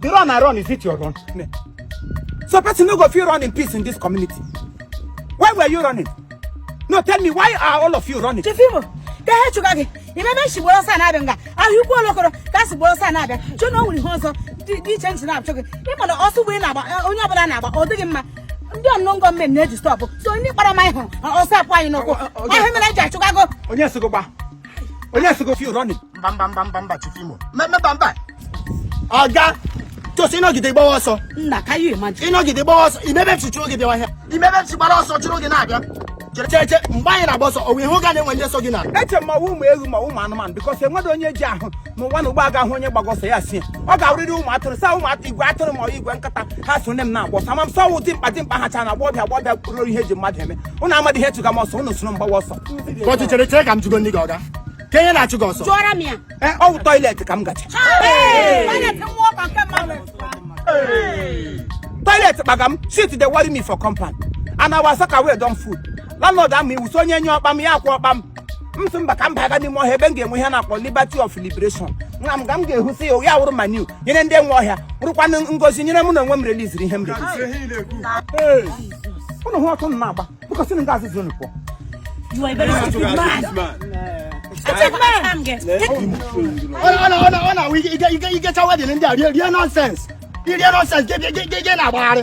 The run I run, is it your run? So person no go fit run in peace in this community. Why were you running? No, tell me, why are all of you running? Chief Imo, ka ha chụga gị ị ma ebe m shi gbara ọsọ na-abịa nga Ahịaukwu Olokoro ka a si gbara ọsọ na-abịa chee na o nwere ihe ọzọ dị iche iche na-achụ gị ị ma na ọsọ ugbu a ị na-agba onye ọbụla na-agba ọ dịghị mma ndị unknown gunmen na-eji stọpụ so ndị kpara m anyị hụrụ ọsọ apụ anyị n'ụkwụ ọ wụ ihe mere eji achụga gị o onye sị gị gba onye sị gị fi rọni mba mba mba mba mba Chief Imo mba mba ọga just ị nọgide gbawa ọsọ nna can you imagine ị nọgide gbawa ọsọ ị ma ebe m shi chụ gị bịawa ihe ị ma ebe m shi gbara ọsọ chụrụ gị na-abịa cheche mgbe anyị na-agba ọsọ ọ wụ ihe ụga na e nwe ndị so gị na eche m ma ọ wụ ụmụ ewu ma ọ wụ ụmụ anụmanụ because enweghị onye ji ahụ n'ụwa na ugbu a ga-ahụ onye gbaga ọsọ ya si ọ ga-awụrịrị ụmụ atụrụ saa ụmụ atụ igwe atụrụ ma igwe nkata ha so nne m na-agba ọsọ ama m sị ọ wụ dimkpa dimkpa ha cha na agbọghọbịa agbọghọbịa kpụrụ ihe eji mmadụ eme unu amadị ihe chụga m ọsọ unu soro m gbawa ọsọ Kọtụ chere chere ka m jụgodị gị ọga. Kee ihe na-achụ gị ọsọ. Jụọrọ m ya. Ee, ọ wụ toilet ka m gacha toilet kpaga m shit dey worry me for compound and our soakaway don full landlord ama iwu sị onye nyụọ kpam ya akwụọ kpam m sị mba ka m baga n'ime ọhịa ebe m ga-enwe ihe na-akpọ liberty of liberation nga m ga m ga-ehusi ya ya wụrụ manure nyere ndị nwe ọhịa wụrụkwanụ ngozi nyere mụ na onwe m reliziri ihe m reliziri unu hụ otu m na-agba because na nga azụzụ unu pụọ You are a very stupid man. Stupid man. Ọ na-awụ ị gachaa wedding ndị a rie nonsense. I rie nonsense gị na-agbagharị.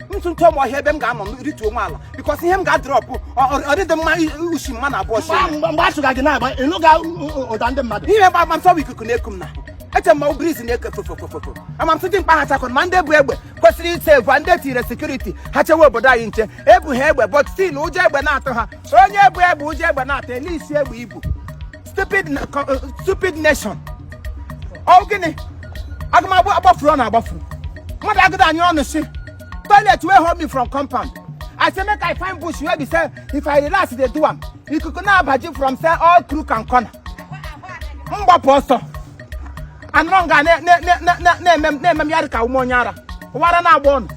ntụ ntụ ọmụ ọhịa ebe m ga-anọ m rituo onwe ala because ihe m ga-adrọpụ ọ- ọ- ọ dịdị mma i- ushi mmadụ abụọ shi Mgbe- mgbe mgbe a chụga gị na-agba ị nụga ụda ndị mmadụ ihe gba ama m sị ọ bụ ikuku na-eku m na eche m ma ọ wụ breeze na-eke fofofofofo ama m sị dimkpa ha chakọ ma ndị bu egbe kwesịrị isave ndị e tinyere security ha chewe obodo anyị nche ebu ha egbe but still ụjọ egbe na-atụ ha onye bu egbe ụjọ egbe na-atụ olee isi egbe i bu stupid na- co- uh, stupid nation ọ gịnị a ga m agbafuru unu agbafu mmadụ agụda anyị ọnụ si toilet wey hold me from compound i say make i find bush wey be say if i relax dey do am ikuku na-aba gị from say all crook and corner m gbapụ ọsọ anọrọ nga na- na- na- na- na- na-eme m- na-eme m ya dị ka a wụ m onye ara ọ wụ ara na-agba unu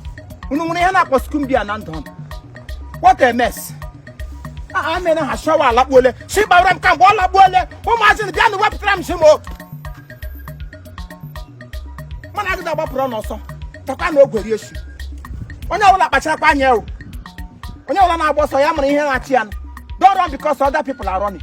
unu nwere ihe a na-akpọ skumbia na ndụ unu what a mess aha ah, mere ha shi ụwa alakpuole si gbara m ka mgbe ọ lakpuole ụmụazị bịanụ wepụtara m isi m mana agịda gbapụrụ n'ọsọ takwanụ ogwe rie si onye ọbụla kpacharakwa anya o onye ọbụla na-agba ọsọ ya mara ihe na-achụ ya don't run because other people are running